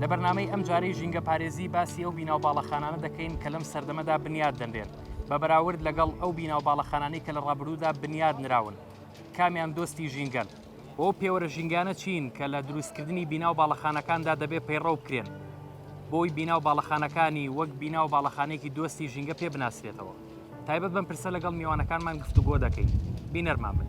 لە بەرنامەی ئەم جارەی ژینگە پارێزی باسی ئەو بیناو باڵەخانانە دەکەین کە لەم سەردەمەدا بنیاد دەنرێن بە بەراورد لەگەڵ ئەو بیناو باڵەخانانی کە لە ڕابروودا بنیاد نراون کامیان دۆستی ژینگەن و ئەو پێوەرە ژینگانە چین کە لە دروستکردنی بیناو باڵەخانەکاندا دەبێ پەیڕەو بکرێن بۆی بیناو باڵەخانەکانی وەک بیناو باڵەخانێکی دۆستی ژینگە پێ بناسرێتەوە تایبەت بەم پرسە لەگەڵ میوانەکانمان گفتوگۆ دەکەین بینەرمان بن.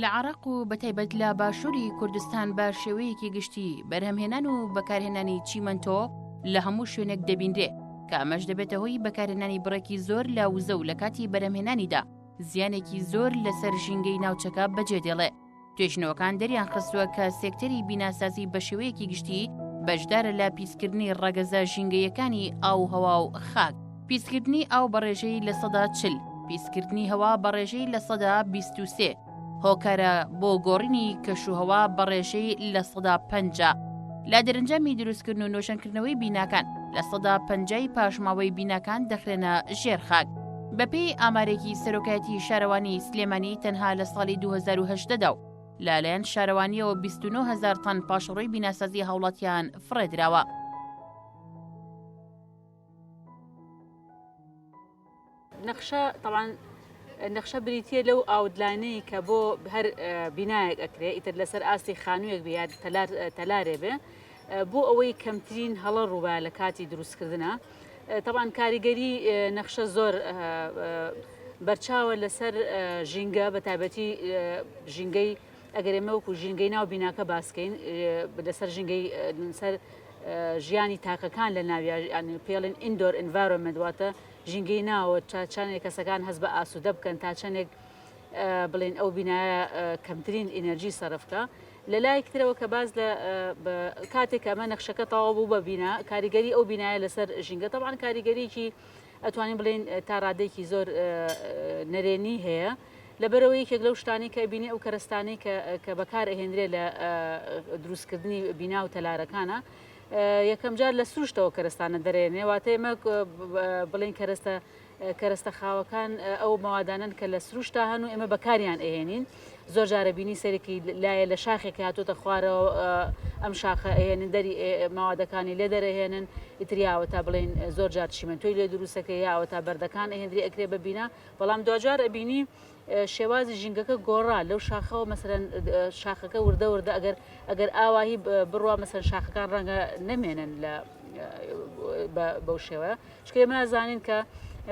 لە عەڕاق و بەتایبەت لە باشوری کوردستان بە شێوەیەکی گشتی بەرهەمهێنان و بەکارهێنانی چیمەنتۆ لە هەموو شوێنێک دەبینرێ کە ئەمەش دەبێتە هۆی بەکارهێنانی بڕێکی زۆر لە وزە و لە کاتی بەرەمهێنانیدا زیانێکی زۆر لەسەر ژینگەی ناوچەکە بەجێ دێڵێ توێژنەوەکان دەریان خستووە کە سێکتەری بیناسازی بە شێوەیەکی گشتی بەشدارە لە پیسکردنی ڕەگەزە ژینگەیەکانی ئاو هەوا و خاک پیسکردنی ئاو بە ڕێژەی لە سەدا چل، پیسکردنی هەوا بە ڕێژەی لە سەدا بیست و سێ، هۆکارە بۆ گۆڕینی کەشوهەوا بە ڕێژەی لە سەدا پەنجا، لە دەرەنجامی دروستکردن و نۆژەنکردنەوەی بیناکان لە سەدا پەنجای پاشماوەی بیناکان دەخرێنە ژێر خاک. بەپێی ئامارێکی سەرۆکایەتی شارەوانی سلێمانی تەنها لە ساڵی 2018 دا و لەلایەن شارەوانیەوە بیست و نۆ هەزار تەن پاشەڕۆی بیناسازی هاوڵاتیان فڕێدراوە. نەخشە تەوان نەخشە بریتە لەو ئاودلاینەی کە بۆ هەر بینایەک ئەکرێت ئیتر لەسەر ئاستی خانوویەک بە یاد تەلارێ بێ بۆ ئەوەی کەمترین هەڵە ڕووبە لە کاتی دروستکردە تەوان کاریگەری نەخشە زۆر بەرچاوە لەسەر ژینگە بە تایبەتی ژینگەی ئەگەر ئێمە وەکو ژینگەی ناو بیناکە باسکەین لەسەر ژینگەی سەر ژیانی تاکەکان لە ناویان پێڵین ئیندۆر ئینڤارۆمنت واتە ژینگەی ناوە تا چندێک کەسەکان هەست بە ئاسوودە بکەن تا چندێک بڵێن ئەو بینایە کەمترین ئینەرژی سەرفکە لە لایەک ترەوە کە باز لە کاتێک ئەمە نەخشەکە تەواو بوو بە بینا کاریگەری ئەو بینایە لەسەر ژینگە تەوان کاریگەریی ئەتوانین بڵێن تا ڕادێکی زۆر نەرێنی هەیە لەبەرئەوەی یەکێک لەو شتانەی کە ئەبینی ئەو کەرەستانەی کە کە بەکار ئەهێنرێ لە دروستکردنی بینا و تەلارەکانە یەکەمجار لە سروشتەوە کەرەستانە دەرێنێ واتە ئێمە بڵێن کەرەستە کەرەستە خاوەکان ئەو مەوادانن کە لە سروشتا هەن و ئێمە بەکاریان ئەهێنین زۆر جارە بینی سەرکی لایە لە شاخێک هاتۆتە خوارەوە ئەم شاخە ئەهێنن دەری ماوادەکانی لێ دەرەهێنن ئیتریاوە تا بڵین زۆر جار چیمەنتۆی لێ دروستەکە یاوە تا بەردەکان ئەهێنری ئەکرێ ببینە بەڵام دواجار ئەبینی شێوازی ژینگەکە گۆڕا لەو شاخەوە مەسەرەن شاخەکە وردە وردە ئەگەر ئەگەر ئاواهی بڕوا مەسەر شاخەکان ڕەنگە نەمێنن لە بەو شێوەیە شکێ مازانین کە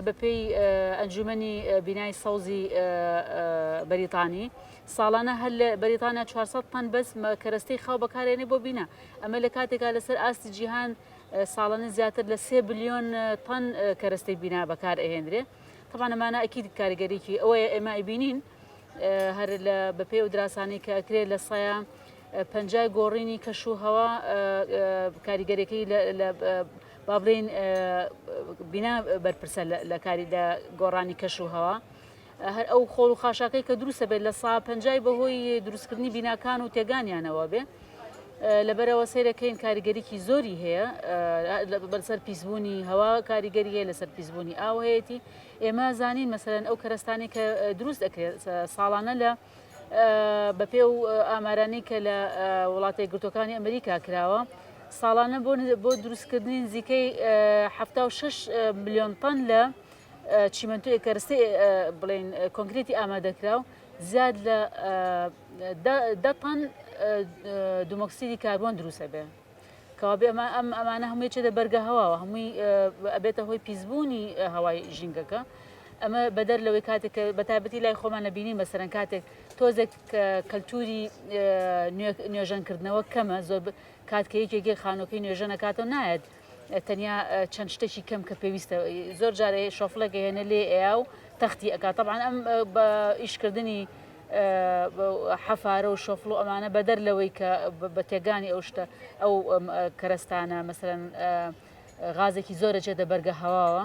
بەپێی ئەنجومنی بینای سەوزی بەریتانی ساڵانە هەر لە بەریتانیا 400 تەن بەس کەرەستەی خاو بەکارێنێ بۆ بینە ئەمە لە کاتێکا لەسەر ئاستی جیهان ساڵانە زیاتر لە سێ بلیۆن تەن کەرەستەی بینا بەکار ئەهێنرێ طبعا ئەمانە ئەکید کاریگەریکی ئەوەیە ئێمە ئەیبینین هەر لە بەپێ و دراسانەی کە ئەکرێت لە سایە پەنجای گۆڕینی کەش و هەوا کاریگەرەکەی با بڵین بینا بەرپرسە لە کاری لە گۆڕانی کەش و هەوا. هەر ئەو خۆڵ و خاشاکەی کە دروستە بێت لە سا پنجای بەهۆی دروستکردنی بیناکان و تێگانیانەوە بێ لەبەرئەوە سەیرەکەین کاریگەریی زۆری هەیە بەسەر پیسبوونی هەوا کاریگەری هەیە لەسەر پیسبوونی ئاو هەیەی ئێمە زانین مەسەرەن ئەو کەرستانی کە دروست دەکرێت ساڵانە لە بەپێ و ئامارانی کە لە وڵاتی گرتوەکانی ئەمریکا کراوە ساڵانە بۆ بۆ دروستکردنی نزیکەی 76 میلیۆن تەن لە چیمەنتوی کەرستی بڵین کۆنکرێتی ئامادەکراو زیاد لە دە تەن دومۆکسیدی کاربۆن دروست ئەبێ کەوابێ ئەمە ئەم ئەمانە هەمووی چێتە بەرگە هەواوە هەمووی ئەبێتە هۆی پیسبوونی هەوای ژینگەکە ئەمە بەدەر لەوەی کاتێک بە تابەتی لای خۆمان نەبینین بەسەرەن کاتێک تۆزێک کەلتوری نوێژەنکردنەوە کەمە زۆر کاتکە یەکێکی خانۆکەی نوێژە نەکاتەوە نایەت تەنیا چەند شتێکی کەم کە پێویستە زۆر جارێ شۆفلێک هێنە لێ ئەیا و تەختی ئەکات تەبان ئەم بە ئیشکردنی حەفارە و شۆفڵ و ئەمانە بەدەر لەوەی کە بە تێگانی ئەو شتە ئەو کەرەستانە مەسەرەن غازێکی زۆرە جێ دەبەرگە هەواوە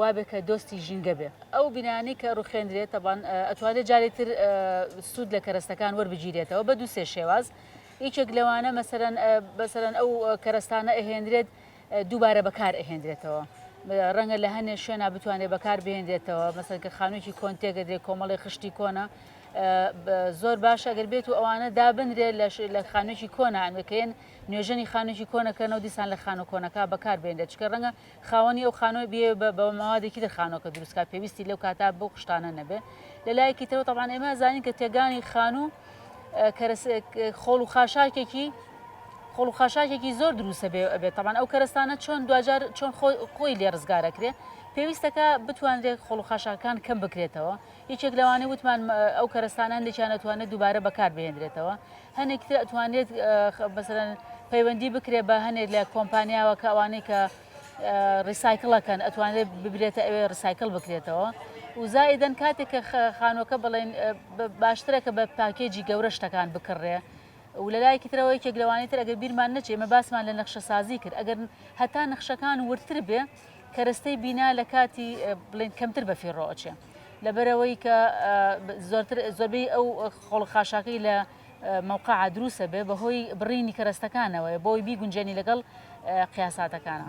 وابێ کە دۆستی ژینگە بێ. ئەو بینایانەی کە ڕوخێندرێت تەبان ئەتوانرێت جارێ تر سوود لە کەرەستەکان وەربگیرێتەوە بە دوو سێ شێواز یەکێک لەوانە مەسەرەن بەسەرەن ئەو کەرەستانە ئەهێنرێت دووبارە بەکار ئەهێنرێتەوە ڕەنگە لە هەنێ شوێنە بتوانێت بەکار بهێنرێتەوە مەسەر کە خانوێکی کۆنتێگەدرێت کۆمەڵی خشتی کۆنە زۆر باشە گەر بێت و ئەوانە دابنرێت لە خانوێکی کۆنە ئەنوەکەێن نوێژەنی خانوێکی کۆنەکەنەوە دیسان لە خانە کۆنەکە بەکار بێنێت چکە ڕەنگە خاوەنی ئەو خانوە بیەوێ بە بە مەوادێکی تر خانوەکە دروست کات پێویستی لەو کاتە بەو قشتانە نەبێ لە لایەکی ترەوە تەبان ئێمە زانین کە تێگانی خانوو خۆڵ و خاشاکێکی خۆڵ و خاشاکێکی زۆر دروستە بێ ئەبێت تەبان ئەو کەرستانە چۆن دوجار چۆن خۆی لێ ڕزگارەکرێ پێویستەکە بتوانرێت خۆڵ و خاشاکان کەم بکرێتەوە یەکێک لەوانەی وتمان ئەو کەرستانە هەندێکیان نەتوانێت دووبارە بەکار بهێنرێتەوە هەنێک تر ئەتوانێت مەسەرەن پەیوەندی بکرێت بە هەنێک لە کۆمپانیاوە کە ئەوانەی کە ڕیسایکلەکەن ئەتوانێت ببرێتە ئەوێ ڕسایکل بکرێتەوە وزایدەن کاتێک کە خانۆکە بڵێن باشترە کە بە پاکێجی گەورە شتەکان بکڕێ و لەلایەکی ترەوە یەکێک لەوانی تر ئەگەر بیرمان نەچێ مە باسمان لە نەخشە سازی کرد ئەگەر هەتا نەخشەکان وردتر بێ کەرەستەی بینا لە کاتی بڵێن کەمتر بەفی ڕۆچێ لەبەرئەوەی کە زۆرتر زۆربەی ئەو خۆڵە خاشاکەی لە مەوقع دروسە بێ بەهۆی بڕینی کەرەستەکانەوەی بۆی بیگونجێنی لەگەڵ قیاساتەکانە.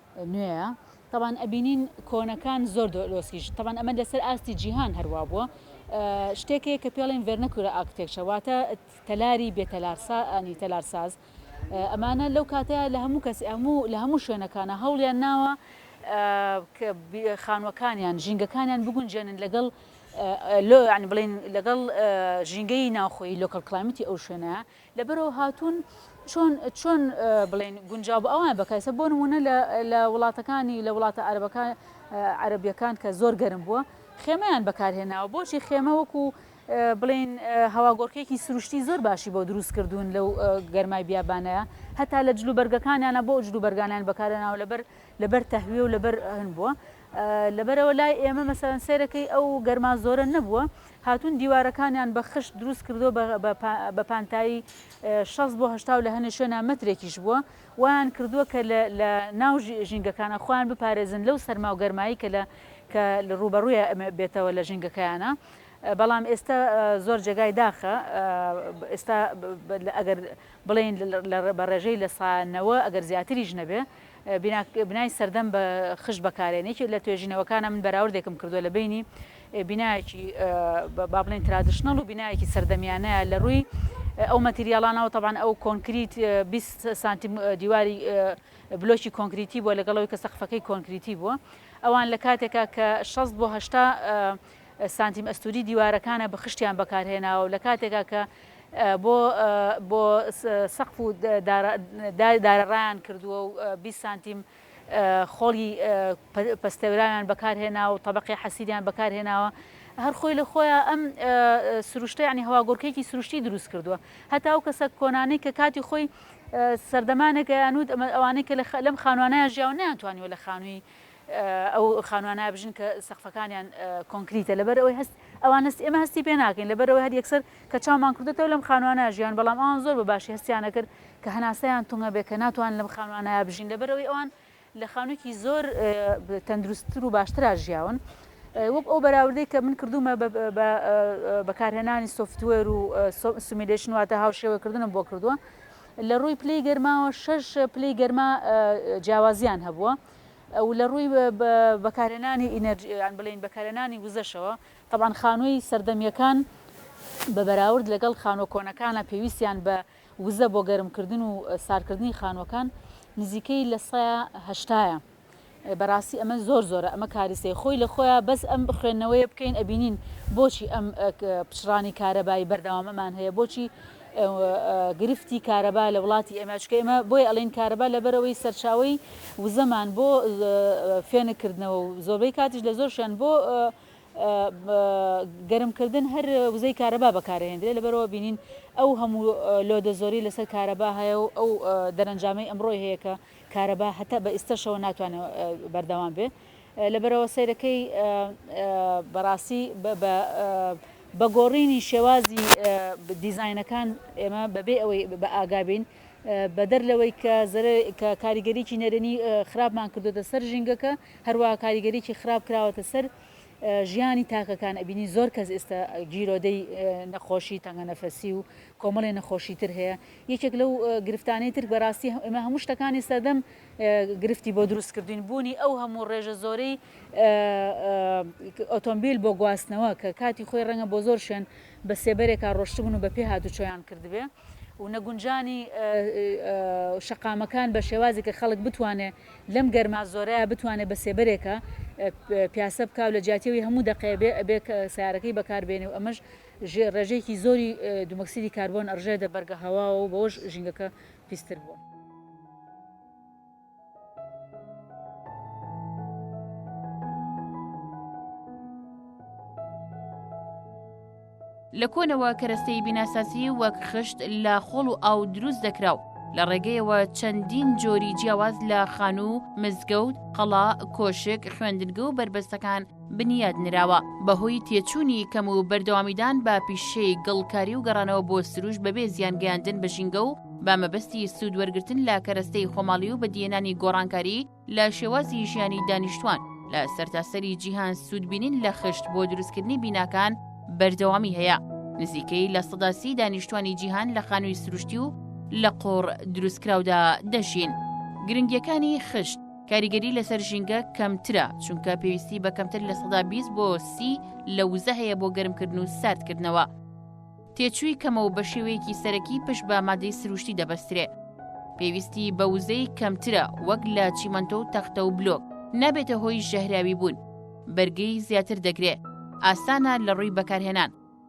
نوێیە تەبان ئەبینین کۆنەکان زۆر دۆلۆسیش تەبان ئەمە لەسەر ئاستی جیهان هەروا بووە شتێکەیە کە پێڵێن ڤێرنەکورە ئاکتێکچە واتە تەلاری بێتەلارسانی تەلارساز ئەمانە لەو کاتەیە لە هەموو کەس هەموو لە هەموو شوێنەکانە هەوڵیان ناوە خانوەکانیان ژینگەکانیان بگونجێنن لەگەڵ لۆ عنی بڵین لەگەڵ ژینگەی ناوخۆی لۆکەڵ کلایمتی ئەو شوێنە لەبەرەوە هاتوون چۆن چۆن بڵێین گونجاو بە ئەوان بەکایسە بۆ نمونە لە وڵاتەکانی لە وڵاتە عربەکان عربیەکان کە زۆر گەرم بووە خێمەیان بەکارهێناوە بۆچی خێمە وەکو بڵین هەواگۆڕکێکی سروشتی زۆر باشی بۆ دروست کردوون لەو گەرمای بیابانەیە هەتا لە جلوبەرگەکانیانە بۆ جلوبەرگانیان بەکارێناوە لەبەر لەبەر تەهویە و لەبەر هەن بووە لەبەرئەوە لای ئێمە مەسەلەن سەیرەکەی ئەو گەرما زۆرە نەبووە هاتوون دیوارەکانیان بە خشت دروست کردووە بە پانتایی شەست بۆ هەشتا و لە هەنێ شوێنا مەترێکیش بووە وایان کردووە کە لە ناو ژینگەکانە خۆیان بپارێزن لەو سەرما و گەرمایی کە لە کە ڕووبەڕوویە بێتەوە لە ژینگەکەیانە بەڵام ئێستا زۆر جێگای داخە ئێستا ئەگەر بڵێن بە ڕێژەی لە سانەوە ئەگەر زیاتریش نەبێ بینا بنای سەردەم بە خشت بەکارێن یەکێ لە توێژینەوەکانە من بەراوردێکم کردووە لە بینی بینایەکی با بڵێن ترادشنەڵ و بینایەکی سەردەمیانەیە لە ڕووی ئەو مەتریاڵانەوە تەبان ئەو کۆنکریت 20 سانتیم دیواری بلۆکی کۆنکریتی بووە لەگەڵەوەی کە سەقفەکەی کۆنکریتی بووە ئەوان لە کاتێکا کە 16 بۆ هشتا سانتیم ئەستووری دیوارەکانە بخشتیان بەکارهێناوە و لە کاتێکا کە بۆ بۆ سەقف و دارە ڕایان کردووە و بیست سانتیم خۆڵی پەستێوراویان بەکارهێناوە و تەبەقی حەسیریان بەکارهێناوە هەر خۆی لە خۆیان ئەم سروشتە یعنی هەواگۆڕکێکی سروشتی دروست کردووە هەتا ئەو کەسە کۆنانەی کە کاتی خۆی سەردەمانێکە یانوت ئەوانەی کە لەم خانوانیان ژیاو نیان توانیوە لە خانووی ئەو خانووە نابژن کە سەقفەکانیان کۆنکریتە لەبەر ئەوەی هەست ئەوان هەست ئێمە هەستی پێ ناکەین لەبەر ئەوەی هەر یەکسەر کە چاومان کردێتەوە لەم خانووانە ژیان بەڵام ئەوان زۆر بە باشی هەستیان نەکرد کە هەناسەیان تونگە بێ کە ناتوان لەم خانووانە بژین لەبەر ئەوەی ئەوان لە خانوویەکی زۆر تەندروستتر و باشترا ژیاون وەک ئەو بەراوردەی کە من کردومە بەکارهێنانی سوفتوێر و سومیلشن واتە هاوشێوەکردنم بۆ کردووە لە ڕووی پلی گەرماوە شش پلی گەرما جیاوازیان هەبووە و لە ڕووی بەکارهێنانی ئینەرجی یان بڵێین بەکارهێنانی وزەشەوە تەبعەن خانووی سەردەمییەکان بە بەراورد لەگەڵ خانووە کۆنەکانە پێویستیان بە وزە بۆ گەرمکردن و ساردکردنی خانووەکان نزیکەی لە سەیا هەشتایە بەڕاستی ئەمە زۆر زۆرە ئەمە کاریسەی خۆی لە خۆیان بەس ئەم خوێندنەوەیە بکەین ئەبینین بۆچی ئەم پچڕانی کارەبایی بەردەوامەمان هەیە بۆچی گرفتی کارەبا لە وڵاتی ئێمە چونکە ئێمە بۆیە ئەڵێین کارەبا لەبەرئەوەی سەرچاوەی وزەمان بۆ فێنک کردنەوە و زۆربەی کاتیش لە زۆرشیان بۆ گەرمکردن هەر وزەی کارەبا بەکارهێندرێ لەبەرەوە بینین ئەو هەموو لۆدە زۆری لەسەر کارەبا هەیە و ئەو دەرەنجامەی ئەمڕۆی هەیە کە کارەبا هەتا بە ئیستەشەوە ناتوانێت بەردەوام بێ لەبەرئەوە سەیرەکەی بەڕاستی بە گۆڕینی شێوازی دیزاینەکان ئێمە بەبێ ئەوەی بە ئاگابین بەدەر لەوەی کە کە کاریگەریی نەرێنی خراپمان کردوتە سەر ژینگەکە هەروە کاریگەریی خراپ کراوەتە سەر ژیانی تاکەکان ئەبینی زۆر کەس ئێستا گیرۆدەی نەخۆشی تەنگەنەفەسی و کۆمەڵی نەخۆشی تر هەیە یەکێک لەو گرفتانەی تر بەڕاستی ئێمە هەموو شتەکانی سەردەم گرفتی بۆ دروست کردوین، بوونی ئەو هەموو ڕێژە زۆرەی ئۆتۆمبیل بۆ گواستنەوە کە کاتی خۆی ڕەنگە بۆ زۆر شوێن بە سێبەرێکا ڕۆشتبن و بە پێ هاتوچۆیان کردبێ و نەگونجانی شەقامەکان بە شێوازی کە خەڵک بتوانێ لەم گەرما زۆرەیا بتوانێ بە سێبەرێکا پیاسە بکا و لە جیاتی ئەوی هەموو دەقەیە بێ ئەبێ سەیارەکەی بەکار بێنێ و ئەمەش ڕێژەیەکی زۆری دومەکسیدی کاربۆن ئەڕژێتە بەرگە هەواوە و بەوەش ژینگەکە پیستر بووە. لە کۆنەوە کەرەستەی بیناسازی وەک خشت لە خۆڵ و ئاو دروست دەکرا و لە ڕێگەیەوە چەندین جۆری جیاواز لە خانوو، مزگەوت، قەڵا، کۆشک، خوێندنگە و بەربەستەکان بنیات نراوە بەهۆی تێچوونی کەم و بەردەوامیدان بە پیشەی گڵکاری و گەڕانەوە بۆ سروش بەبێ زیان گەیاندن بە ژینگە و بە مەبەستی سوود وەرگتن لە کەرەستەی خۆماڵی و بەدیێنانی گۆڕانکاری لە شێوازی ژیانی دانیشتوان لە سەرتاسەری جیهان سوودبینین لە خشت بۆ دروستکردنی بیناکان بەردەوامی هەیە نزیکەی لە سەداسی دانیشتوانی جیهان لە خانووی سروشتی و لە قۆڕ دروستکراودا دەژین گرنگیەکانی خشت کاریگەری لەسەر ژینگە کەمترە چونکە پێویستی بە کەمتر لە سەدا 20 بۆ سی لە وزە هەیە بۆ گەرمکردن و ساردکردنەوە تێچووی کەمە و بە شێوەیەکی سەرەکی پشت بە مادەی سروشتی دەبەسترێ پێویستی بە وزەی کەمترە وەک لە چیمەندۆ و تەختە و بلۆک نابێتە هۆی ژەهراوی بوون بەرگی زیاتر دەگرێ ئاسانە لە ڕووی بەکارهێنان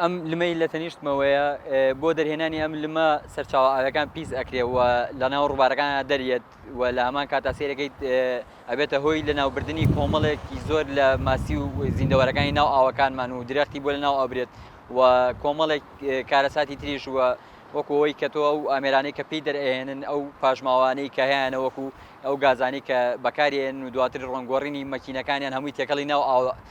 ئەم لمەی لە تەنیشتمەوەیە بۆ دەرهێنانی ئەم لمە سەرچاوە ئاوەکان پیس ئەکرێ و لە ناو ڕووبارەکان دەریێت و لە هەمان کاتا سێرەکەیت ئەبێتە هۆی لە ناوبردنی کۆمەڵێکی زۆر لە ماسی و زیندەوەرەکانی ناو ئاوەکانمان و درەختی بۆ لە ناو ئەبرێت و کۆمەڵێک کارەساتی تریش و وەکەوەی کە تۆ ئەو ئامێرانەی کە پێی دەرئێنن ئەو پاشماوانەی کە هەیەە وەکو ئەو گازانی کە بەکارێن و دواتر ڕۆنگۆڕینی مەکینەکانیان هەمووی تێکەڵی ناو ئاوە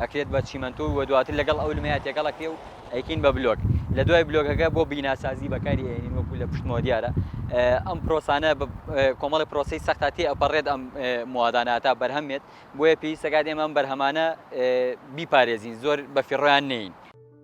ئەکرێت بە چیمەنتۆ و دواتر لەگەڵ ئەو لمەیە تێکەڵ ئەکرێ و ئەیکەین بە بلۆک لە دوای بلۆکەکە بۆ بیناسازی بەکاری ئەێنین وەکو لە پشتمەوە دیارە ئەم پرۆسانە کۆمەڵی پرۆسی سەختا تێ ئەپەڕێت ئەم موادانە تا بەرهەمێت بۆیە پێویستەکات ئێمە ئەم بەرهەمانە بیپارێزین زۆر بە فیڕۆیان نین.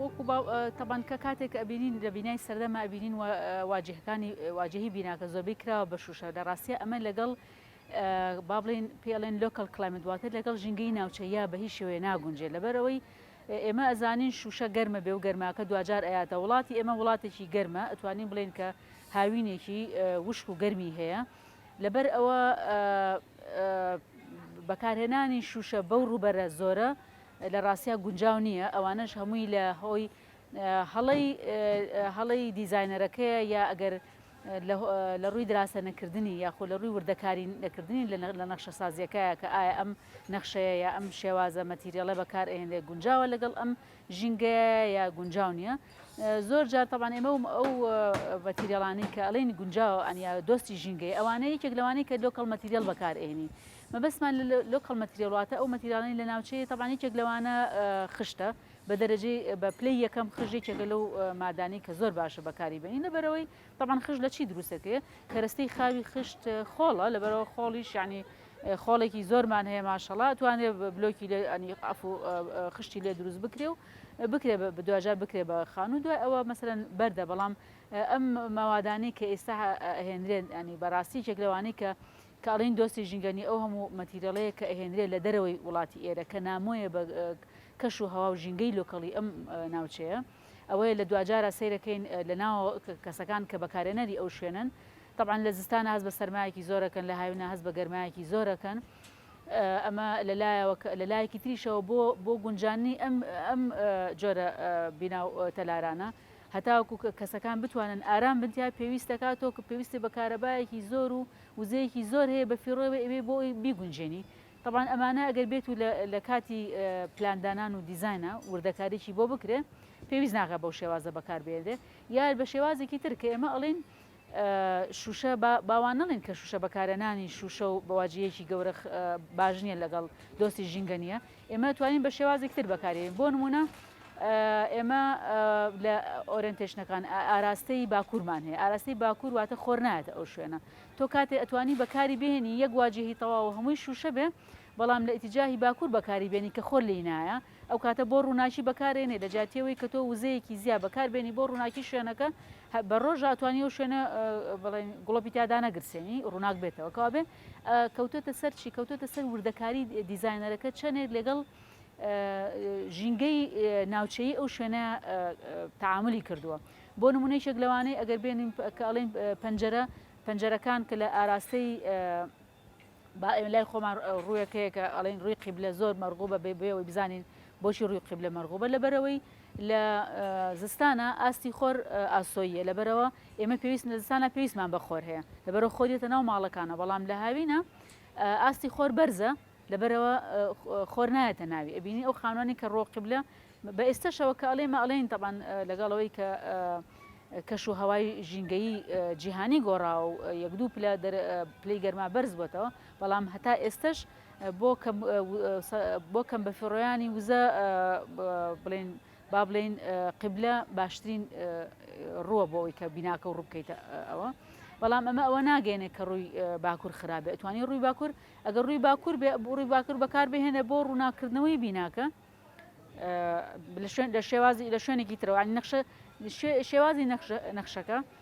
وەکو با تەبان کە کاتێک ئەبینین لە بینای سەردەما ئەبینین واجهەکانی واجهی بیناکە زۆربەی کراوە بە شوشە لە ڕاستە ئەمە لەگەڵ با بڵین پێڵێن لۆکەڵ کلایمت واتە لەگەڵ ژینگەی ناوچە یا بە هیچ شێوەیە ناگونجێ لەبەرەوەی ئێمە ئەزانین شوشە گەرمە بێ و گەرماکە دوجار ئەیاتە وڵاتی ئێمە وڵاتێکی گەرمە ئەتوانین بڵێن کە هاوینێکی وشک و گەرمی هەیە لەبەر ئەوە بەکارهێنانی شوشە بەو ڕوبەرە زۆرە لە ڕاستیا گونجاو نییە، ئەوانەش هەمووی لە هۆی هەڵەی هەڵەی دیزاینەرەکەیە یا ئەگەر لە ڕووی دراسە نەکردنی یاخۆ لە ڕووی وردەکاری نەکردنی لە نەخشە سازیەکایە کە ئایا ئەم نەخشەیە یا ئەم شێوازە مەتیریەڵە بەکار ئەهێنرێت گونجاوە لەگەڵ ئەم ژینگەیە یا گونجاو نییە زۆر جار تەبان ئێمە و ئەو مەتیریەڵانی کە ئەڵین گونجاو ئەنیا دۆستی ژینگەی ئەوانەیە یەک لەوانەیە کە لۆکەڵ مەتیریەڵ بەکار ئێنی مەبەستمان لە لۆکەڵ مەتریاڵ واتە ئەو مەتیراڵەی لە ناوچەیە تەبان یەکێک لەوانە خشتە بە دەرەجەی بە پلەی یەکەم خش یەکێکە لەو مادانی کە زۆر باشە بەکاری بێنی لەبەرەوەی تەبان خش لە چی دروستەکەی کەرەستەی خاوی خشت خۆڵە لەبەرەوە خۆڵیش ینی خۆڵێکی زۆرمان هەیە ماشەڵا توانێت بلۆکی لێ ئەنی ئەف و خشتی لێ دروست بکرێ و بکرێ بە دواجار بکرێ بە خان و دوای ئەوە مەسەرەن بەردە بەڵام ئەم ماوادانی کە ئێستا هێنرێن ئەنی بەڕاستی چێک لەوانی کە کە ئەڵێین دۆستی ژینگە نیە ئەو هەموو مەتیرێڵەیە کە ئەهێنرێ لە دەرەوەی وڵاتی ئێرە کە نامۆیە بە کەش و هەوا و ژینگەی لۆکەڵی ئەم ناوچەیە ئەوەیە لە دواجارا سەیرەکەین لە ناوەوە کەسەکان کە بەکارێنەری ئەو شوێنەن تەبعەن لە زستانا هەست بە سەرمایەکی زۆر ئەکەن لە هاوینا هەست بە گەرمایەکی زۆر ئەکەن ئەمە لە لایەوە کە لە لایەکی تریشەوە بۆ بۆ گونجاننی ئەم ئەم جۆرە بینا و تەلارانە هەتاوەکو کەسەکان بتوانن ئارام بن تیا پێویست دەکاتەوە کە پێویستی بە کارەبایەکی زۆر و وزەیەکی زۆر هەیە بەفیڕۆیەوە ئەیبێ بۆ ئەوی بیگونجێنی تەبعەن ئەمانە ئەگەر بێت و لە کاتی پلان دانان و دیزاینە وردەکاریی بۆ بکرێ پێویست ناکا بەو شێوازە بەکار بێنرێ یا بە شێوازێکی تر کە ئێمە ئەڵێن شوشە باوان نەڵێن کە شوشە بەکارەنانی شوشە و بەواجەیەکی گەورە باش نییە لەگەڵ دۆستی ژینگە نییە ئێمە دەتوانین بە شێوازێکی تر بەکارێنین بۆ نمونە ئێمە لە ئۆرنتێشنەکان ئاراستەی باکوورمان هەیە ئاراستەی باکوور واتە خۆر نایەتە ئەو شوێنە تۆ کاتێ ئەتوانی بەکاری بێنی یەک واجهی تەواو هەمووی شوشە بێ بەڵام لە ئتیجاهی باکوور بەکاری بێنی کە خۆر لی نایە ئەو کاتە بۆ ڕووناکی بەکارێنێ لە جاتیەوەی کە تۆ وزەیەکی زیا بەکار بێنی بۆ ڕووناکی شوێنەکە بە ڕۆژاتوانی و شوێنە بڵێن گوڵپی تیادا نەگرسێنی ڕووناک بێتەوە کەوابێ کەوتۆتە سەر چی کەوتۆتە سەر وردەکاری دیزاینەرەکە چەنێت لەگەڵ ژینگەی ناوچەیی ئەو شوێنە تعاملی کردووە بۆ نمونەیشێک لەوانەی ئەگەر بێنین کە ئەڵێن پەنجەرە پەنجەرەکان کە لە ئاراستەی با ئێمە لای خۆمان ڕوویەک هەیە کە ئەڵین ڕووی قیبلە زۆر مەرغوو بە بێبێەوەی بزانین بۆچی ڕووی قیبلە مەرغوبە لەبەرەوەی لە زستانە ئاستی خۆر ئاسۆیە لەبەرەوە ئێمە پێویست لە زستانا پێویستمان بە خۆر هەیە لەبەرەوە خۆر دێتە ناو ماڵەکانەوە بەڵام لە هاوینە ئاستی خۆر بەرزە لەبەرەوە خۆر نایەتە ناوی ئەبینی ئەو خانوانی کە ڕۆقبلە بە ئێستەشەوە کە ئەڵێ مەڵێن تەبان لەگەڵەوەی کە کەش و هەوای ژینگەی جیهانی گۆڕا و یەک دوو پلە پلی گەرما بەرز بووتەوە بەڵام هەتا ئێستش بۆ کەم بەفیڕۆیانی وزە بڵێن با بڵێین قیبلە باشترین ڕووە بۆ ئەوی کە بیناکە و ڕووبکەیتە ئەوە بەڵام ئەمە ئەوە ناگەێنێ کە ڕووی باکوور خراپ بێت توانی ڕووی باکوور ئەگەر ڕووی باکوور بێ ڕووی باکوور بەکار بهێنە بۆ ڕووناکردنەوەی بیناکە لە شوێن لە شێوازی لە شوێنێکی ترەوانی نەخشە شێوازی نەخشەکە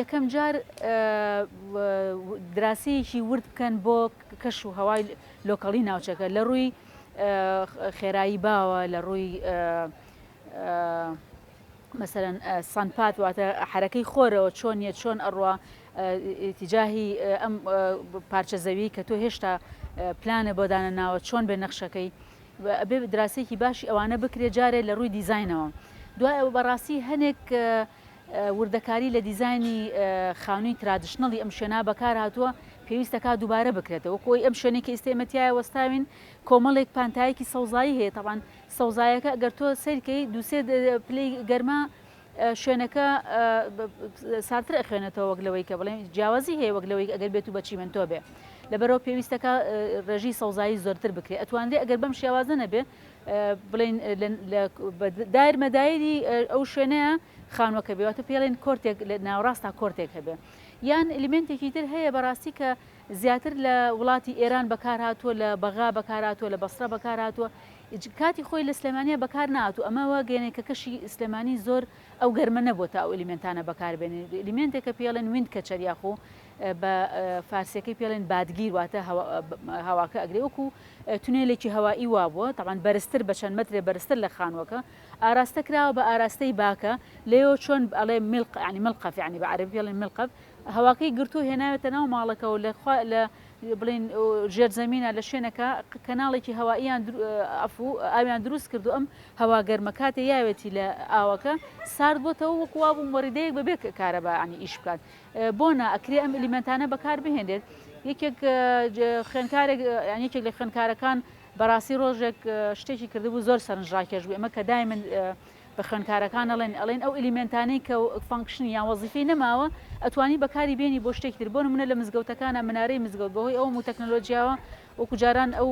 یەکەم جار دراسەیەکی ورد بکەن بۆ کەش و هەوای لۆکەڵی ناوچەکە لە ڕووی خێرایی باوە لە ڕووی مەسەرەن سانپات واتە حرەکەی خۆرەوە چۆن نیە چۆن ئەڕوا تیجاهی ئەم پارچە زەوی کە تۆ هێشتا پلانە بۆ دانە ناوە چۆن بێ نەخشەکەی بێ دراسێکی باشی ئەوانە بکرێ جارێ لە ڕووی دیزینەوە دوای ئەو بەڕاستی هەنێک وردەکاری لە دیزاینی خانووی ترادشنەڵی ئەم شوێنە بەکارهاتووە، پێویستە کا دووبارە بکرێتەوە، وەکو ئەوی ئەم شوێنەی کە ئیستە ئێمە تیایا وەستاوین کۆمەڵێک پانتایەکی سەوزایی هەیە، تەبعەن سەوزایەکە ئەگەر تۆ سەیر کەی دوو سێ پلەی گەرما شوێنەکە ساردتر ئەخوێنێتەوە وەک لەوەی کە بڵێن جیاوازی هەیە وەک لەوەی ئەگەر بێت و بە چیمەنتۆ بێ لەبەرەوە پێویستەکە ڕێژی سەوزایی زۆرتر بکرێت ئەتوانرێ ئەگەر بەم شێوازە نەبێ بڵێین لە دایر مەدایری ئەو شوێنەیە خانووەکە بێ واتە پێڵێن کۆرتێک لە ناوەڕاستا کۆرتێک هەبێ یان ئلیمنتێکی تر هەیە بەڕاستی کە زیاتر لە وڵاتی ئێران بەکارهاتووە لە بەغا بەکارهاتووە لە بەسرە بەکارهاتووە کاتی خۆی لە سلێمانیا بەکار ناتو ئەمەوە گەێنێ کە کەشی سلێمانی زۆر ئەو گەرمە نەبووە تا ئەو ئلیمنتانە بەکاربێنێ ئلیمنتێکە پێڵێن وین کەچەر یاخۆ بە فارسیەکەی پێڵێن بادگیر واتە هەواکە ئەگرێ وەکو تونێلێکی هەوایی وابووە تاوان بەرزتر بە چەند مەترێ بەرزتر لە خانووەکە ئاراستە کراوە بە ئاراستەی باکە لەیەوە چۆن ئەڵێ ملق عنی ملقەف عنی بە عربی پێڵێن ملقەف هەواکەی گرتو هێناوێتە ناو ماڵەکەەوە لە لە بڵین ژێر زمینە لە شوێنەکە کەناڵێکی هەواییان ئەفو ئاویان دروست کردو ئەم هەوا گەرمە کاتێ یاوێتی لە ئاوەکە سارد بۆتەوە وەکووا بووم وەڕیدەیەک بەبێ کارەبانی ئیش بکات بۆ نا ئەکرێ ئەم ئیلیمێنتانە بەکار بهێنرێت یەکێک خوێنکارێک یەکێک لە خوێنکارەکان بەڕاستی ڕۆژێک شتێکی کردبوو زۆر سەرنجڕاکێش بوو ئەمە کە دای من بە خوێنکارەکان ئەڵێن ئەڵێن ئەو ئەلیمنتانەی کە فانکشنی یان وەزیفی نەماوە ئەتوانی بەکاری بێنی بۆ شتێک تر بۆ منە لە مزگەوتەکانە منارەی مزگەوت بەهۆی ئەو و تەکنەلۆژیاوە وەکوجاران ئەو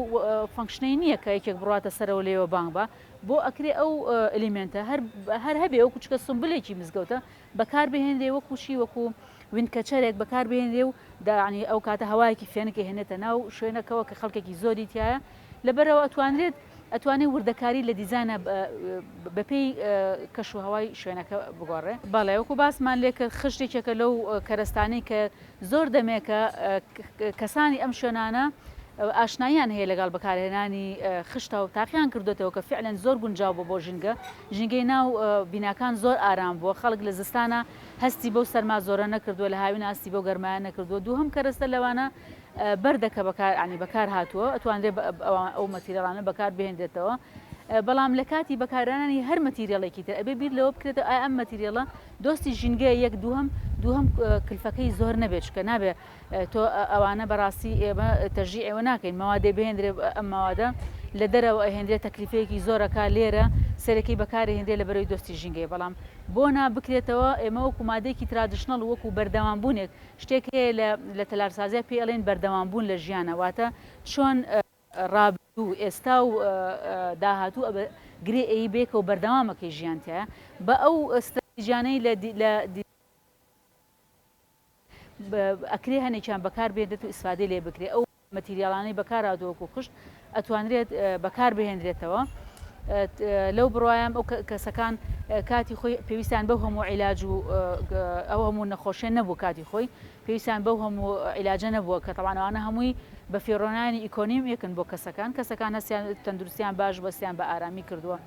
فانکشنەی نییە کە یەکێک بڕاتە سەرەوە لێوە بانگ بە بۆ ئەکرێ ئەو ئەلیمنتە هەر هەر هەبێ ئەو کوچکە سمبلێکی مزگەوتە بەکار بهێنرێ وەکو چی وەکو وینکەچەرێک بەکار بهێنرێ و دەیانی ئەو کاتە هەوایەکی فێنک هێنێتە ناو شوێنەکەەوە کە خەڵکێکی زۆری تایە لەبەرەوە ئەتوانرێت ئەتوانێت وردەکاری لە دیزانە بەپێی کەش و هەوای شوێنەکە بگۆڕێ بەڵێ وەکو باسمان لێ کرد خشتێکێکە لەو کەرەستانی کە زۆر دەمێکە کەسانی ئەم شوێنانە ئاشنایان هەیە لەگەڵ بەکارهێنانی خشتە و تاقییان کردوێتەوە کە فعلەن زۆر گونجاو بۆ بۆ ژینگە ژینگەی ناو بیناکان زۆر ئارام بووە، خەڵک لە زستانا هەستی بەو سەرما زۆرە نەکردووە، لە هاوینا هەستی بەو گەرمایە نەکردووە، دووهەم کەرەستە لەوانە بەردە کە بەکارهاتووە، ئەتوانرێ ئەو مەتیرێڵانە بەکار بهێنرێتەوە، بەڵام لە کاتی بەکارهێنانی هەر مەتیرێڵێکی تر ئەبێ بیر لەوە بکرێتەوە ئایا ئەم مەتیرێڵە دۆستی ژینگەیە یەک، دووهەم کلفەکەی زۆر نەبێ چونکە نابێ تۆ ئەوانە بەڕاستی ئێمە تەژی ئێوە ناکەین مەوادێ بهێندرێ ئەم مەوادە لە دەرەوە ئەهێندرێت تەکلیفەیەکی زۆرەکە لێرە سەرەکی بەکاری هێندێ لە بەرەوی دۆستی ژینگەی بەڵام بۆ نا بکرێتەوە ئێمە وەکو مادێکی ترادشنەڵ وەکو بەردەوام بوونێک شتێک هەیە لە لە تەلارسازیا پێ ئەڵێن بەردەوام بوون لە ژیانە واتە چۆن ڕابردوو ئێستا و داهاتوو ئەبێ گرێ ئەیی بێکەوە بەردەوامەکەی ژیان تیایە بە ئەو ستراتیجانەی لە ئەکرێ هەنێکیان بەکار بێنرێت و ئیسفادەی لێ بکرێت ئەو مەتیریاڵانەی بەکارهاتووە وەکو خشت ئەتوانرێت بەکار بهێنرێتەوە لەو بڕوایم ئەو کەسەکان کاتی خۆی پێویستیان بەو هەموو عیلاج و ئەو هەموو نەخۆشیێن نەبوو کاتی خۆی پێویستیان بەو هەموو عیلاجە نەبووە کە تەوانەوانە هەمووی بە فێڕۆنانی ئیکۆنیم یەکن بۆ کەسەکان کەسەکان هەستیان تەندروستیان باش بەستیان بە ئارامی کردووە.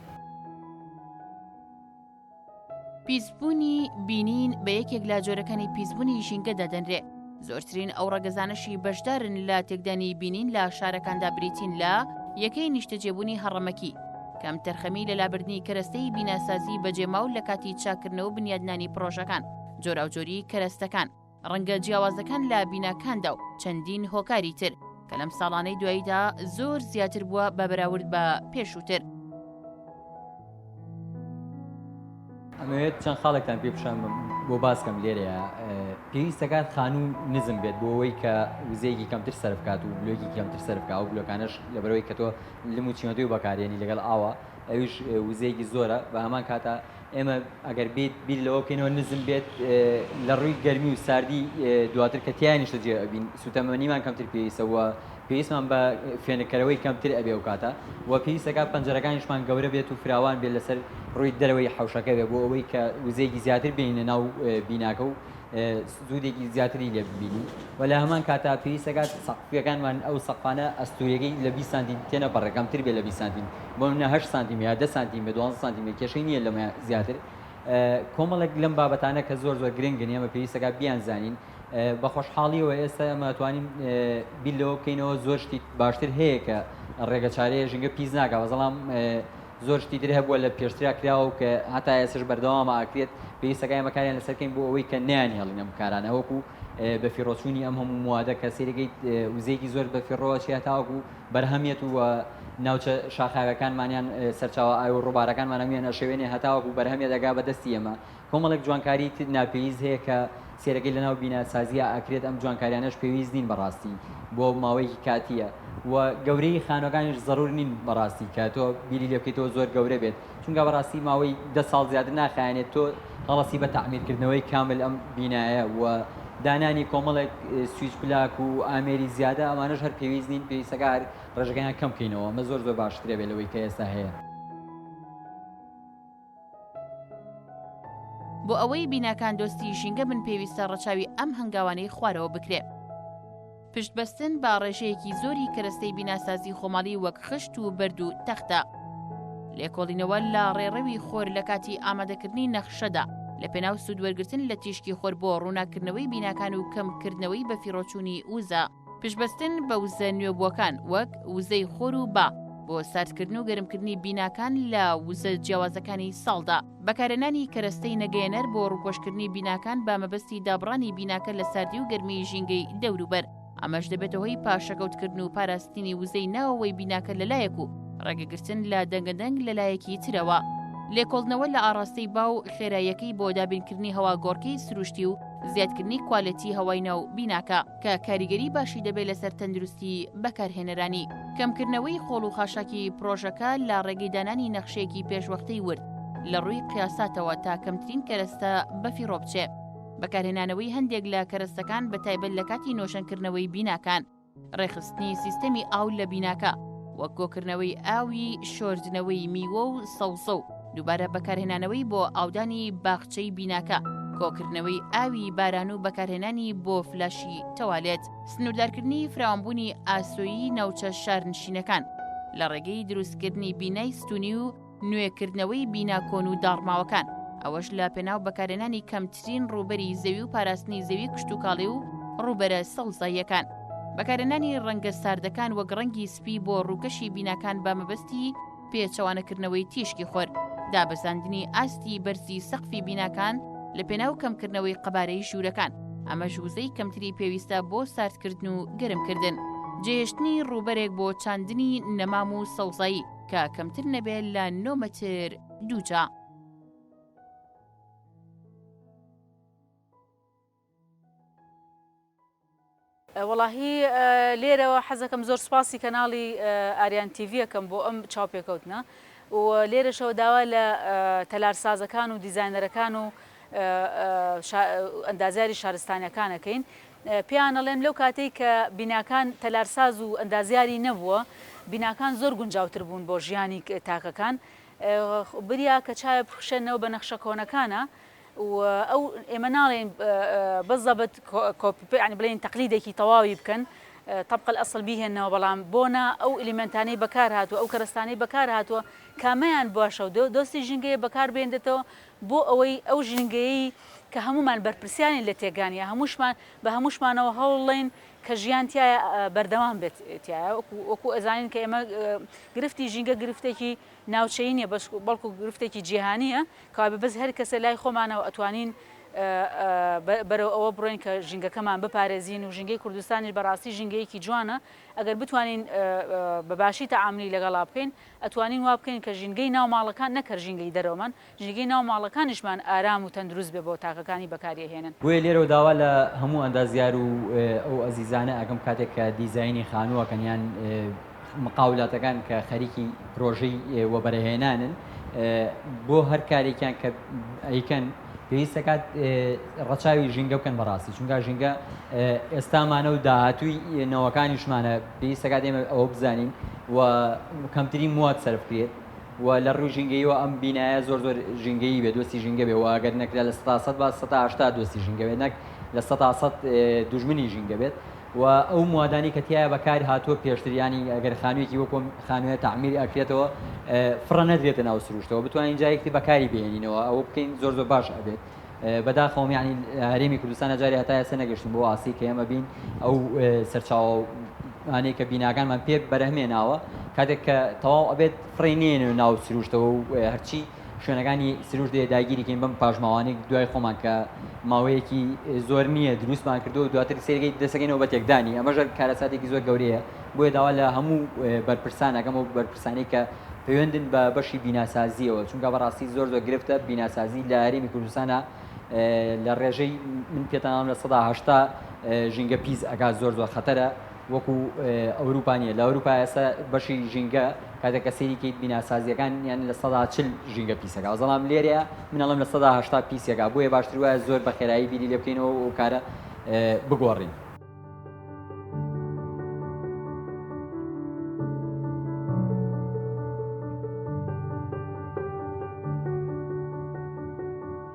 پیسبوونی بینین بە یەکێک لە جۆرەکانی پیسبوونی ژینگە دادەنرێ زۆرترین ئەو ڕەگەزانەشی بەشدارن لە تێکدانی بینین لە شارەکاندا بریتین لە یەکەی نیشتەجێبوونی هەڕەمەکی کەم تەرخەمی لە لابردنی کەرەستەی بیناسازی بەجێماو لە کاتی چاکردنەوە بنیادنانی پرۆژەکان جۆراوجۆری کەرەستەکان ڕەنگە جیاوازەکان لە بیناکاندا و چەندین هۆکاری تر کە لەم ساڵانەی دواییدا زۆر زیاتر بووە بە بەراورد بە پێشووتر. ئەمەوێت چەند خاڵێکتان پێ پیشان بم بۆ باسکەم لێرەیە پێویستەکان خانوو نزم بێت بۆ ئەوەی کە وزەیەکی کەمتر سەر بکات و بلۆکی کەمتر سەر بکە و بلۆکانش لەبەرەوەی کە تۆ لم و چیمەدوی بەکارێنی لەگەڵ ئاوە ئەویش وزەیەکی زۆرە بە هەمان کاتە ئێمە ئەگەر بیت بیر لەوە بکەینەوە نزم بێت لە ڕووی گەرمی و ساردی دواتر کە تیا نیشتە جێ ئەبین سوتەمەنیمان کەمتر پێویستە وە پێویستمان بە فێنکەرەوەی کەمتر ئەبێ و کاتە وە پێویستەکە پەنجەرەکانیشمان گەورە بێت و فراوان بێت لەسەر ڕووی دەرەوەی حوشەکە بێ بۆ ئەوەی کە وزەیەکی زیاتر بێنە ناو بیناکە و سوودێکی زیاتری لێ ببینین و لە هەمان کاتا پێویستەکات سەقفەکانمان ئەو سەقفانە ئەستوورەکەی لە 20 سانتی تێنەپەڕێ کەمتر بێ لە 20 سانتی بۆ نمونە هەشت سانتیمە یا دە سانتیمە دوازدە سانتیمە کێشەی نییە لەمە زیاتر کۆمەڵێک لەم بابەتانە کە زۆر زۆر گرنگن ئێمە پێویستەکە بیان زانین بە خۆشحاڵیەوە ئێستا ئەمە توانین بیر لەوە بکەینەوە زۆر شتی باشتر هەیە کە ڕێگە چارەیە ژنگە پیس ناکە بەزەڵام زۆر شتی تر هەبووە لە پێشترا کراوە کە هەتا ئێسش بەردەوامە ئاکرێت پێویستەکە ئێمەکاریان لەسەرکەین بۆ ئەوەی کە نیان هێڵینە بکارانەوەکو بەفیڕۆچوونی ئەم هەموو موادە کە سەیرەگەیت وزەیەکی زۆر بەفیڕۆوە چیا تاوەکو بەرهەمێت و ناوچە شاخاوەکانمانیان سەرچاوە ئاو و ڕووبارەکانمان هەموویان ئەشێوێنێ هەتاوەکو بەرهەمێ دەگا بە دەستی ئێمە کۆمەڵێک جوانکاری ناپێویست هەیە کە سێرەگەی لەناو بیناسازیە ئەکرێت ئەم جوانکاریانەش پێویست نین بەڕاستی بۆ ماوەیەکی کاتیە و گەورەی خانوەکانیش زەرور نین بەڕاستی کە تۆ بیری لێ بکەیتەوە زۆر گەورە بێت چونکە بەڕاستی ماوەی دە ساڵ زیاتر ناخایەنێت تۆ هەڵەسی بە تەعمیرکردنەوەی کامل ئەم بینایە و دانانی کۆمەڵێک سویچ پلاک و ئامێری زیادە ئەمانەش هەر پێویست نین پێویستەکە هەر ڕێژەکەیان کەم کەینەوە ئەمە زۆر زۆر باشترە بێت لەوەی کە ئێستا هەیە. بۆ ئەوەی بیناکان دۆستی ژینگە بن پێویستە ڕەچاوی ئەم هەنگاوانەی خوارەوە بکرێ. پشتبەستن بە ڕێژەیەکی زۆری کەرەستەی بیناسازی خۆماڵی وەک خشت و بەرد و تەختە. لێکۆڵینەوە لە ڕێڕەوی خۆر لە کاتی ئامادەکردنی نەخشەدا لە پێناو سوودوەرگرتن لە تیشکی خۆر بۆ ڕووناککردنەوەی بیناکان و کەمکردنەوەی بەفیڕۆچوونی وزە، پشتبەستن بە وزە نوێبووەکان وەک وزەی خۆر و با بۆ ساردکردن و گەرمکردنی بیناکان لە وزە جیاوازەکانی ساڵدا. بەکارهێنانی کەرەستەی نەگەیەنەر بۆ ڕووپۆشکردنی بیناکان بە مەبەستی دابڕانی بیناکە لە ساردی و گەرمیی ژینگەی دەوروبەر ئەمەش دەبێتە هۆی پاشەکەوتکردن و پاراستنی وزەی ناوەوەی بیناکە لەلایەک و ڕێگەگرتن لە دەنگەدەنگ لەلایەکی ترەوە. لێکۆڵنەوە لە ئاڕاستەی با و خێراییەکەی بۆ دابینکردنی هەواگۆڕکێی سروشتی و زیادکردنی کوالێتی هەوای ناو بیناکە. کە کاریگەری باشی دەبێت لەسەر تەندروستی بەکارهێنەرانی. کەمکردنەوەی قۆڵ و خاشاکی پڕۆژەکە لە ڕێگەی دانانی نەخشەیەکی پێشوەختەی ورد لە ڕووی قیاساتەوە تا کەمترین کەرەستە بەفیڕۆ بچێ. بەکارهێنانەوەی هەندێک لە کەرەستەکان بە تایبەت لە کاتی نۆژەنکردنەوەی بیناکان. ڕێکخستنی سیستەمی ئاو لە بیناکە، وەک کۆکردنەوەی ئاوی شۆردنەوەی میوە و سەوزە و. دووبارە بەکارهێنانەوەی بۆ ئاودانی باخچەی بیناکە کۆکردنەوەی ئاوی باران و بەکارهێنانی بۆ فلاشی تەوالێت سنووردارکردنی فراوانبوونی ئاسۆیی ناوچە شارنشینەکان لە ڕێگەی دروستکردنی بینای ستونی و نوێکردنەوەی بینا کۆن و داڕماوەکان ئەوەش لە پێناو بەکارێنانی کەمترین ڕوبەری زەوی و پاراستنی زەوی کشتتوکاڵی و ڕوبەرە سەوزاییەکان بەکارێنانی ڕەنگە ساردەکان وەک ڕەنگی سپی بۆ ڕووکەشی بیناکان بە مەبەستی پێچەوانەکردنەوەی تیشکی خۆر، دابەزاندنی ئاستی بەرزی سەقفی بیناکان لە پێناو کەمکردنەوەی قەبارەی ژوورەکان، ئەمەش وزەی کەمتری پێویستە بۆ ساردکردن و گەرمکردن. جێهێشتنی ڕووبەرێک بۆ چاندنی نەمام و سەوزایی کە کەمتر نەبێت لە نۆ مەتر دووجا. وەڵاهی لێرەوە حەزەکەم زۆر سوپاسی کەناڵی ئاریان تیڤی ئەکەم بۆ ئەم چاوپێکەوتنە و لێرەشەوە داوا لە تەلارسازەکان و دیزاینەرەکان و ئەندازیاری شارستانیەکانەکەین پیانەڵێم لەو کاتێک کە بیناکان تەلارساز و ئەندازیاری نەبووە بیناکان زۆر گونجاوتر بوون بۆ ژیانی تاکەکان بریا کە چاوێ بخشێنەوە بە نەخشە کۆنەکانە و ئەو ئێمە ناڵێین بە زەبت کۆپی پێ یانی بڵێین تەقلیدێکی تەواوی بکەن طبق الاصل بیهێنەوە بەڵام بۆ نا ئەو ئلیمنتانەی بەکار هاتووە ئەو کەرەستانەی بەکار هاتووە کامەیان باشە و دۆستی ژینگەیە بەکار بێندێتەوە بۆ ئەوەی ئەو ژینگەیەی کە هەمومان بەرپرسیانی لە تێگانە هەموشمان بە هەموشمانەوە هەوڵڵین کە ژیان تایە بەردەوام بێت تایە وەکو ئەزانین کە ئێمە گرفتی ژینگە گرفتێکی ناوچەی نیە بەڵکو گرفتێکی جیهانیە کە وایە بەس هەر کەسە لای خۆمانەوە ئەتوانین بەرەو ئەوە بڕۆین کە ژینگەکەمان بپارێزین و ژینگەی کوردستانیش بە ڕاستی ژینگەیەکی جوانە ئەگەر بتوانین بە باشی تەعامولی لەگەڵا بکەین ئەتوانین وا بکەین کە ژینگەی ناو ماڵەکان نەک هەر ژینگەی دەرەوەمان ژینگەی ناو ماڵەکانیشمان ئارام و تەندروست بێ بۆ تاکەکانی بەکاریەهێنن. بۆیە لێرەوە داوا لە هەموو ئەندازیار و ئەو ئەزیزانە ئەکەم کاتێک کە دیزاینی خانوو ئەکەن یان مقاولاتەکان کە خەریکی پرۆژەی وەبەرەهێنانن بۆ هەر کارێکیان کە ئەیکەن پێویست دەکات ڕەچاوی ژینگە بکەن بەڕاستی چونکە ژینگە ئێستامانە و داهاتووی نەوەکانیشمانە پێویست دەکات ئێمە ئەوە بزانین و کەمترین موات سەرفکرێت و لە ڕوو ژینگەیەوە ئەم بینایە زۆر زۆر ژینگەی بێ دۆستی ژینگە بێ واگەر نەکرا لە ستا سەد با سەهشتا دۆستی ژینگە بێت نەک لە سەدا سەد دوژمنی ژینگە بێت و ئەو موادانەی کە تیایا بەکار هاتووە پێشتر یانی ئەگەر خانوویەکی وەکو ئەم خانوویە تەعمیر ئەکرێتەوە فڕە نەدرێتە ناو سروشتەوە بتوانین جارێکی تر بەکاری بهێنینەوە ئەوە بکەین زۆر زۆر باش ئەبێت بەداخەوەم یعنی هەرێمی کوردستان جارێ هەتا ئێستا نەگەشتین بۆ ئاسی کە ئێمە بین ئەو سەرچاوە ئەوانەیە کە بیناکانمان پێ بەرهەمێناوە کاتێک کە تەواو ئەبێت فڕێ نێنێ ناو سروشتەوە و هەرچی شوێنەکانی سروشت دێ داگیریکەین بەم پاشماوانێک دوای خۆمان کە ماوەیەکی زۆر نییە دروستمان کردو و دواتر سێرگەی دەسەکەینەوە بە تێکدانی ئەمە ژەر کارەساتێکی زۆر گەورەیە بۆیە داوا لە هەموو بەرپرسانەکەم و بەرپرسانی کە پەیوەندن بە بەشی بیناسازیەوە چونکە بەڕاستی زۆر زۆر گرفتە بیناسازی لە هەرێمی کوردستانە لە ڕێژەی من پێتانام لە سەدا هەشتا ژینگە پیس ئەگات زۆر زۆر خەتەرە وەکو ئەوروپا نیە لە ئەوروپا ئێستا بەشی ژینگە کاتێک کە سێری کەیت بیناسازیەکان یان لە سەدا چل ژینگە پیسەکە زەڵام لێرەیە منەڵم لە سەدا هشتا پیسەکە بۆیە باشتر وایە زۆر بە خێرایی بیری لێ بکەینەوە و کارە بگۆڕین.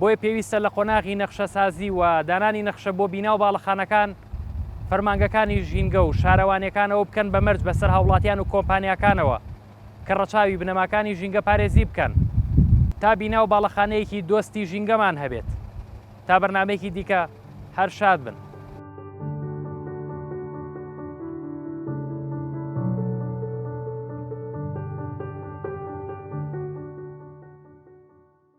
بۆیە پێویستە لە قۆناغی نەخشەسازی و دانانی نەخشە بۆ بینا و باڵەخانەکان، فەرمانگەکانی ژینگە و شارەوانیەکان ئەوە بکەن بە مەرج بەسەر هاوڵاتیان و کۆمپانیاکانەوە کە ڕەچاوی بنەماکانی ژینگە پارێزی بکەن تا بینا و باڵەخانەیەکی دۆستی ژینگەمان هەبێت. تا بەرنامەیەکی دیکە هەر شاد بن.